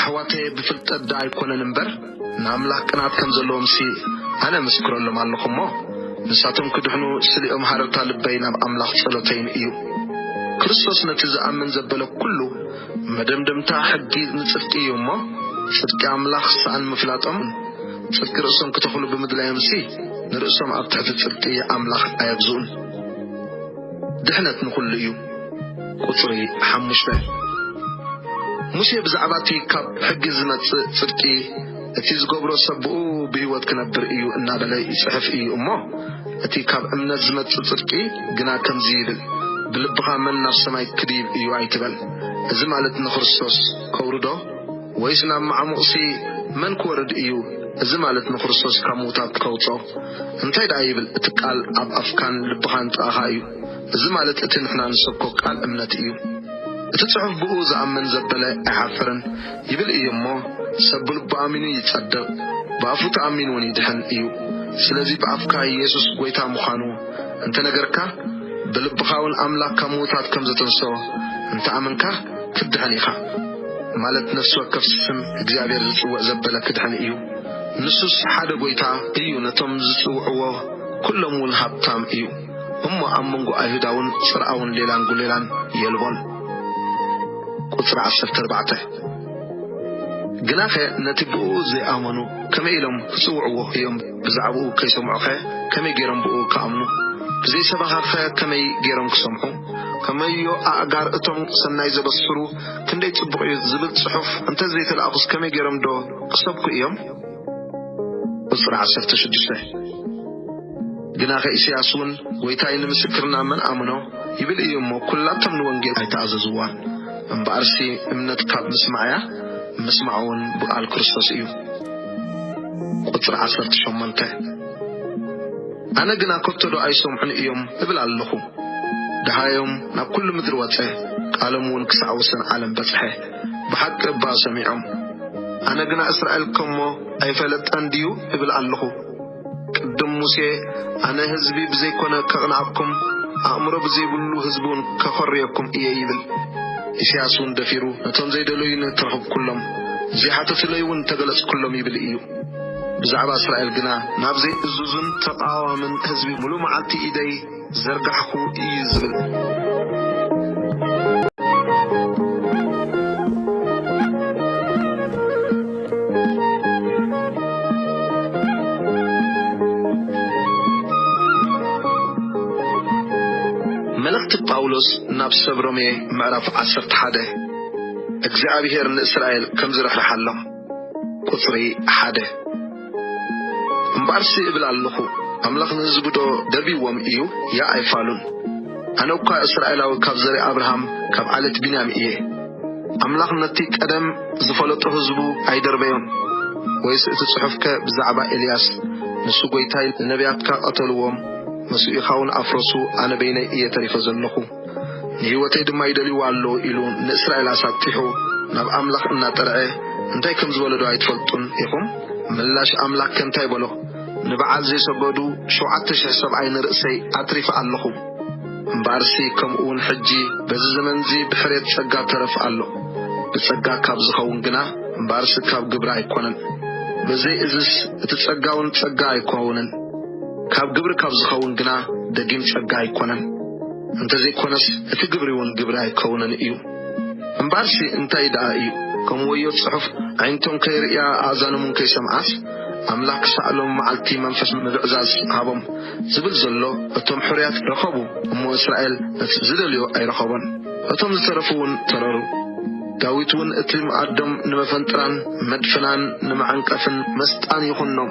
ኣሕዋተየ ብፍልጠት ድኣ ኣይኮነን እምበር ንኣምላኽ ቅንኣት ከም ዘለዎምሲ ኣነ እምስክረሎም ኣለኹ እሞ ንሳቶም ክድሕኑ ስሌኦም ሃረርታ ልበይ ናብ ኣምላኽ ጸሎተይን እዩ። ክርስቶስ ነቲ ዝኣምን ዘበለ ኩሉ መደምደምታ ሕጊ ንጽድቂ እዩ እሞ ጽድቂ ኣምላኽ ስኣን ምፍላጦም ጽድቂ ርእሶም ክተኽሉ ብምድላዮምሲ ንርእሶም ኣብ ትሕቲ ጽድቂ ኣምላኽ ኣየግዝኡን። ድሕነት ንኹሉ እዩ። ቍጽሪ ሓሙሽተ፣ ሙሴ ብዛዕባ እቲ ኻብ ሕጊ ዚመጽእ ጽድቂ፣ እቲ ዚገብሮ ሰብ ብእኡ ብህይወት ኪነብር እዩ እናበለ ይጽሕፍ እዩ እሞ፣ እቲ ኻብ እምነት ዚመጽእ ጽድቂ ግና ከምዚ ይብል፣ ብልብኻ መን ናብ ሰማይ ኪድይብ እዩ ኣይትበል፣ እዚ ማለት ንክርስቶስ ከውርዶ? ወይስ ናብ መዓሙቝሲ መን ኪወርድ እዩ፣ እዚ ማለት ንክርስቶስ ካብ ምዉታት ከውጽኦ? እንታይ ደኣ ይብል፣ እቲ ቃል ኣብ ኣፍካን ልብኻን ጥቓኻ እዩ። እዚ ማለት እቲ ንሕና ንሰብኮ ቃል እምነት እዩ። እቲ ጽሑፍ ብእኡ ዝኣምን ዘበለ ኣይሓፍርን ይብል እዩ እሞ ሰብ ብልቡ ኣሚኑ ይጸድቕ ብኣፉ ተኣሚኑውን ይድሕን እዩ። ስለዚ ብኣፍካ ኢየሱስ ጐይታ ምዃኑ እንተ ነገርካ ብልብኻውን ኣምላኽ ካብ ምዉታት ከም ዘተንሥኦ እንተ ኣመንካ ክትድሕን ኢኻ። ማለት ነፍሲ ወከፍ ስም እግዚኣብሔር ዝጽውዕ ዘበለ ክድሕን እዩ። ንሱስ ሓደ ጐይታ እዩ ነቶም ዝጽውዕዎ ኩሎምውን ሃብታም እዩ። እሞ ኣብ መንጎ ኣይሁዳውን ጽርኣውን ሌላን ጉሌላን የልቦን። ቍጽሪ ዓሰርተ ኣርባዕተ ግናኸ ነቲ ብእኡ ዘይኣመኑ ከመይ ኢሎም ኪጽውዕዎ እዮም? ብዛዕባኡ ከይሰምዑኸ ከመይ ገይሮም ብእኡ ኪኣምኑ? ብዘይ ሰባኺኸ ከመይ ገይሮም ኪሰምዑ? ከመዮ ኣእጋር እቶም ሠናይ ዘበስሩ ክንደይ ጽቡቕ እዩ ዚብል ጽሑፍ እንተ ዘይተላእኩስ ከመይ ገይሮምዶ ኪሰብኩ እዮም? ቁጽሪ ዓሰርተ ሽዱሽተ ግናኸ ኢሳያስውን ጐይታይ ንምስክርና መን ኣምኖ? ይብል እዩ እሞ፣ ኵላቶም ንወንጌል ኣይተኣዘዝዋን። እምበኣርሲ እምነት ካብ ምስማዕ እያ፣ ምስማዕውን ብቓል ክርስቶስ እዩ። ቁጽሪ ዓሰርተ ሸሞንተ ኣነ ግና ከቶዶ ኣይሰምዑን እዮም እብል ኣሎኹ። ደሃዮም ናብ ኵሉ ምድሪ ወጸ፣ ቃሎምውን ክሳዕ ወሰን ዓለም በጽሐ። ብሓቂ እባ ሰሚዖም ኣነ ግና እስራኤል ከሞ ኣይፈለጠን ድዩ እብል ኣለኹ ቅድም ሙሴ ኣነ ህዝቢ ብዘይኮነ ከቅንኣኩም ኣእምሮ ብዘይብሉ ህዝቢ ውን ከኾርየኩም እየ ይብል ኢሰያስ ውን ደፊሩ ነቶም ዘይደለዩኒ ተረኽብኩሎም ዘይሓተቱለይ ውን ተገለጽኩሎም ይብል እዩ ብዛዕባ እስራኤል ግና ናብ ዘይእዙዝን ተቃዋምን ህዝቢ ሙሉእ መዓልቲ ኢደይ ዝዘርጋሕኩ እዩ ዝብል። መልእኽቲ ጳውሎስ ናብ ሰብ ሮሜ ምዕራፍ ዓሰርተ ሓደ እግዚኣብሄር ንእስራኤል ከም ዝርሕርሓሎም ቁጽሪ ሓደ። እምበኣርሲ እብል ኣሎኹ፣ ኣምላኽ ንህዝቡዶ ደብይዎም እዩ? ያእ ኣይፋሉን። ኣነ እኳ እስራኤላዊ ካብ ዘርኢ ኣብርሃም ካብ ዓሌት ብንያም እየ። ኣምላኽ ነቲ ቀደም ዝፈለጦ ህዝቡ ኣይደርበዮን። ወይስ እቲ ጽሑፍከ ብዛዕባ ኤልያስ፣ ንሱ ጐይታይ ንነብያትካ ቀተልዎም፣ መሱኢኻውን ኣፍረሱ፣ ኣነ በይነይ እየ ተሪፈ ዘሎኹ? ንህይወተይ ድማ ይደልይዋ ኣለዉ ኢሉ ንእስራኤል ኣሳጢሑ ናብ ኣምላኽ እናጠርዐ እንታይ ከም ዝበሎዶ ኣይትፈልጡን ኢኹም? ምላሽ ኣምላክ ከ እንታይ በሎ? ንበዓል ዘይሰገዱ ሸውዓተ ሽሕ ሰብኣይ ንርእሰይ ኣትሪፈ ኣለኹ። እምበኣርሲ ከምኡውን ሕጂ በዚ ዘመንዚ ብሕርየት ጸጋ ተረፍ ኣሎ። ብጸጋ ካብ ዝኸውን ግና እምበኣርሲ ካብ ግብሪ ኣይኮነን። በዘይ እዝስ እቲ ጸጋውን ጸጋ ኣይኮውንን። ካብ ግብሪ ካብ ዝኸውን ግና ደጊም ጸጋ ኣይኮነን፣ እንተዘይኮነስ እቲ ግብሪውን ግብሪ ኣይከውንን እዩ። እምበኣርሲ እንታይ ደኣ እዩ? ከምኡ ወዮ ጽሑፍ፣ ኣዒንቶም ከይርእያ ኣእዛኖምውን ከይሰምዓስ፣ ኣምላኽ ክሳዕ ሎሚ መዓልቲ መንፈስ ምብዕዛዝ ሃቦም፣ ዝብል ዘሎ፣ እቶም ሕሩያት ረኸቡ እሞ እስራኤል ነቲ ዝደልዮ ኣይረኸቦን፣ እቶም ዝተረፉውን ተረሩ። ዳዊትውን እቲ ምኣዶም ንመፈንጥራን መድፈናን ንመዐንቀፍን መስጣን ይኹኖም፣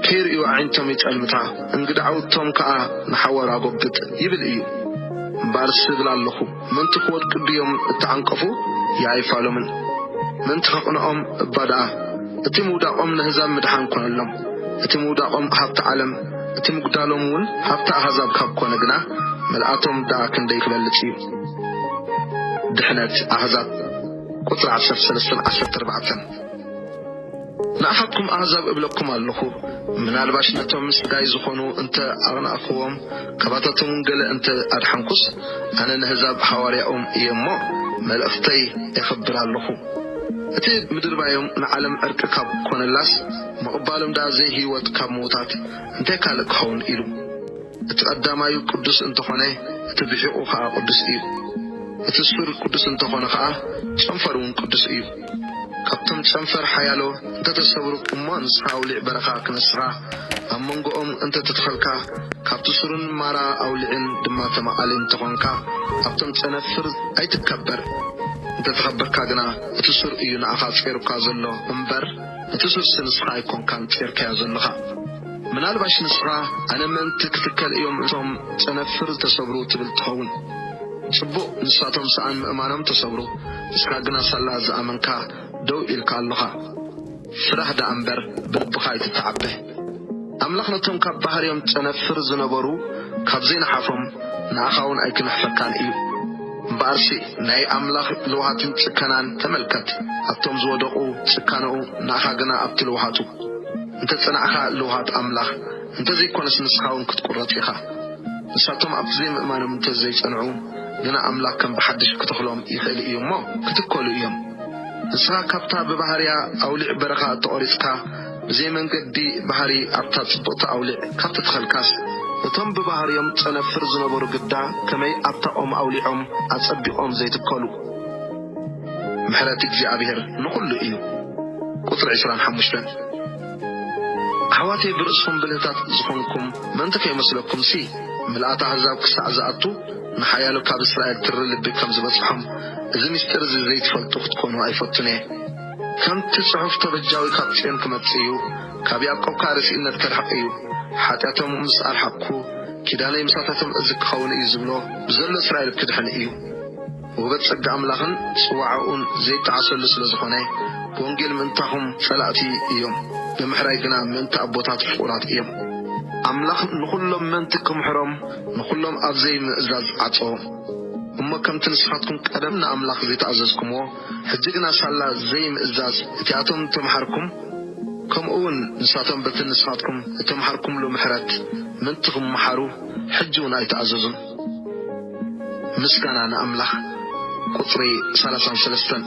ከይርእዩ ኣዒንቶም ይጠልምታ፣ እንግድዓውቶም ከኣ ንሓዋሩ ኣጎብጥ ይብል እዩ። እምበኣርስ እብል ኣሎኹ፣ ምእንቲ ክወድቁ ድዮም እተዓንቀፉ? ይኣይፋሎምን። ምእንቲ ከቕንኦም እባ ደኣ፣ እቲ ምውዳቖም ነህዛብ ምድሓን ኰነሎም። እቲ ምውዳቖም ሃብቲ ዓለም፣ እቲ ምጕዳሎምውን ሃብቲ ኣህዛብ ካብ ኰነ ግና፣ ምልኣቶም ደኣ ክንደይ ኪበልጽ እዩ! ድሕነት ኣህዛብ ቁጽሪ ዓሰርተ ሰለስተን ዓሰርተ ኣርባዕተን። ንኣኻትኩም ኣህዛብ እብለኩም ኣሎኹ፣ ምናልባሽ ነቶም ስጋይ ዝኾኑ እንተ ኣቕናእኩዎም፣ ካባታቶምውን ገለ እንተ ኣድሓንኩስ፣ ኣነ ነህዛብ ሃዋርያኦም እየ እሞ፣ መልእኽተይ ኤኸብር ኣሎኹ። እቲ ምድርባዮም ንዓለም ዕርቂ ካብ ኮነላስ፣ ምቕባሎም ደኣ ዘይህይወት ካብ ምዉታት፣ እንታይ ካልእ ኪኸውን ኢሉ? እቲ ቀዳማዩ ቅዱስ እንተ ኾነ፣ እቲ ብሒቝ ኸኣ ቅዱስ እዩ። እቲ ሱር ቅዱስ እንተ ኾነ ኸኣ፣ ጨንፈርውን ቅዱስ እዩ። ካብቶም ጨንፈር ሓያሎ እንተ ተሰብሩ እሞ ንስኻ ኣውሊዕ በረኻ ክንስኻ ኣብ መንጎኦም እንተ ተተኸልካ ካብቲ ሱርን ማራ ኣውሊዕን ድማ ተማቓሊ እንተ ኾንካ ኣብቶም ጨነፍር ኣይትከበር እንተ ተኸበርካ ግና እቲ ሱር እዩ ንኣኻ ጼሩካ ዘሎ እምበር ነቲ ሱርሲ ንስኻ ኣይኮንካን ጼርካዮ ዘሎኻ ምናልባሽ ንስኻ ኣነ ምእንቲ ክትከል እዮም እቶም ጨነፍር ዝተሰብሩ ትብል ትኸውን ጽቡቕ ንሳቶም ሰኣን ምእማኖም ተሰብሩ ንስካ ግና ሳላ ዝኣመንካ ደው ኢልካ ኣሎኻ ስራህ ደኣ እምበር ብልብኻ ኣይትተዓበ ኣምላኽ ነቶም ካብ ባህርዮም ጨነፍር ዝነበሩ ካብ ዘይነሓፎም ንኣኻ ውን ኣይክንሕፈካን እዩ እምበኣርሲ ናይ ኣምላኽ ልውሃትን ጽከናን ተመልከት ኣብቶም ዝወደቁ ጽካነኡ ንኣኻ ግና ኣብቲ ልውሃቱ እንተጸናዕካ ልውሃት ኣምላኽ እንተዘይኮነስ ንስኻ ውን ክትቁረጽ ኢኻ። ንሳቶም ኣብቲ ዘይምእማኖም እንተዘይጸንዑ ግና ኣምላኽ ከም ብሓድሽ ክተኽሎም ይኽእል እዩ እሞ ክትከሉ እዮም። ንስኻ ካብታ ብባህርያ ኣውሊዕ በረኻ እተቖሪጽካ ብዘይ መንገዲ ባህሪ ኣብታ ጽብቕቲ ኣውሊዕ ካብ ተተኸልካስ፣ እቶም ብባህርዮም ጸነፍር ዝነበሩ ግዳ ከመይ ኣብታ ኦም ኣውሊዖም ኣጸቢቖም ዘይትከሉ። ምሕረት እግዚኣብሄር ንኹሉ እዩ። ቁጽሪ ዕስራን ሓሙሽተን። ኣሕዋተይ ብርእስኹም ብልህታት ዝኾንኩም ምእንቲ ከይመስለኩምሲ፣ ምልኣት ኣህዛብ ክሳዕ ዝኣቱ፣ ንሓያሎ ካብ እስራኤል ትሪ ልቢ ከም ዝበጽሖም፣ እዚ ምስጢር እዚ ዘይትፈልጡ ክትኮኑ ኣይፈቱን እየ። ከምቲ ጽሑፍ ተበጃዊ ካብ ጽዮን ክመጽእ እዩ፣ ካብ ያእቆብ ከኣ ርሲእነት ከርሕቕ እዩ፣ ሓጢኣቶም ምስ ኣርሓቕኩ፣ ኪዳነይ ምሳታቶም እዝኪኸውን እዩ ዝብሎ፣ ብዘሎ እስራኤል ክድሕን እዩ። ውህበት ጸጋ ኣምላኽን ጽዋዕኡን ዘይጣዓሰሉ ስለ ዝኾነ፣ ብወንጌል ምእንታኹም ጸላእቲ እዮም፣ ብምሕራይ ግና ምእንቲ ኣቦታት ፍቑራት እዮም። ኣምላኽ ንኹሎም ምእንቲ ክምሕሮም ንኹሎም ኣብ ዘይምእዛዝ ዓጸዎም። እሞ ከምቲ ንስኻትኩም ቀደም ንኣምላኽ ዘይተኣዘዝኩምዎ፣ ሕጂ ግና ሳላ ዘይምእዛዝ እቲኣቶም እተመሓርኩም፣ ከምኡውን ንሳቶም በቲ ንስኻትኩም እተመሓርኩምሉ ምሕረት ምእንቲ ክመሓሩ፣ ሕጂውን ኣይተኣዘዙን። ምስጋና ንኣምላኽ ቁጽሪ ሰላሳን ሰለስተን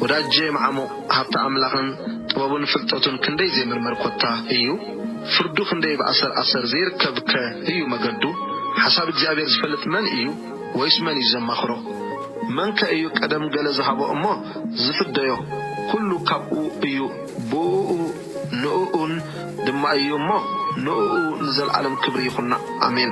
ወዳጄ መዓሙቕ ሃብቲ ኣምላኽን ጥበቡን ፍልጠቱን ክንደይ ዘይምርመር ኮታ እዩ ፍርዱ ክንደይ ብ ኣሰር ኣሰር ዘይርከብ ከ እዩ መገዱ ሓሳብ እግዚኣብሔር ዝፈልጥ መን እዩ ወይስ መን እዩ ዘማኽሮ መን ከ እዩ ቀደም ገለ ዝሃቦ እሞ ዝፍደዮ ኩሉ ካብኡ እዩ ብኡኡ ንእኡን ድማ እዩ እሞ ንእኡ ንዘልኣለም ክብሪ ይኹኖ ኣሜን።